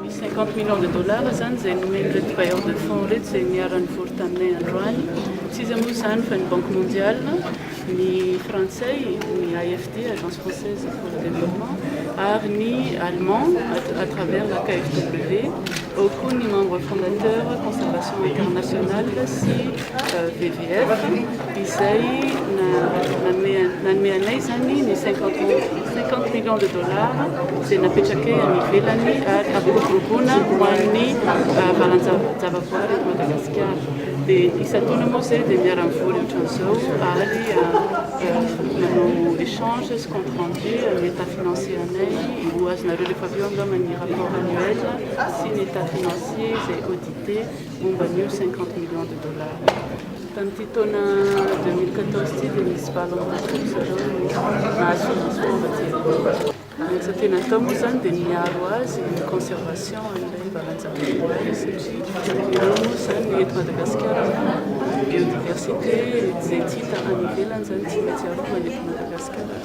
Misy cinquante millions de dollars izany izay nomen'ireto bailleurs de fonds ireto izay niara-nivory taminay androany. Tsy iza moa izany fa ny Banque mondiale, ny frantsay, ny AFD, Agence française pour le développement, ary ny allemand à travers la KFW, ao koa ny membre fondateur Conservation internationale sy VVF. izay nanome anay izany ny cinquante millions de dollars izay napetrakay any ivelany ary hampiroboroboana ho an'ny valan-javaboary eto Madagasikara dia isan-taona moa izay dia miara-mivory ohatran'izao ary manao échange sy compte rendu amin'ny état financier anay ho azonareo rehefa avy eo angamba ny rapport annuel sy ny état financier izay audité momba an'io cinquante millions de dollars io. Tamin'ity taona deux mille quatorze ity dia nisy valo ambin'ny folo ry zareo no nahazo financement avy aty Amerika. Ny asa tena atao moa izany dia ny miaro azy, ny conservation an'ilay valan-javaboary satria ireo moa izany ny eto Madagasikara biodiversité izay tsy hita any ivelany izany tsy maintsy arovana eto Madagasikara.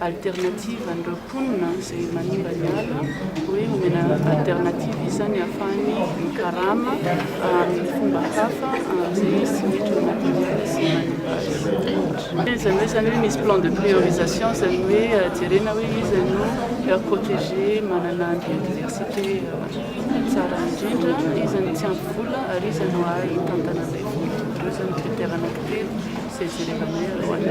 alternative an'ireo mponina izay manimba ny ala hoe homena alternative izany hahafahany mikarama amin'ny fomba hafa amin'izay izy tsy miditra ao anatin'ny ala sy manimba azy. Izany hoe izany hoe misy plan de priorisation izany hoe jerena hoe iza no heure protégée manana biodiversité tsara indrindra, iza no tsy ampy vola ary iza no hahay hitantana an'ilay vola. Ireo izany critères anankitelo izay jerena hoe alohan'ny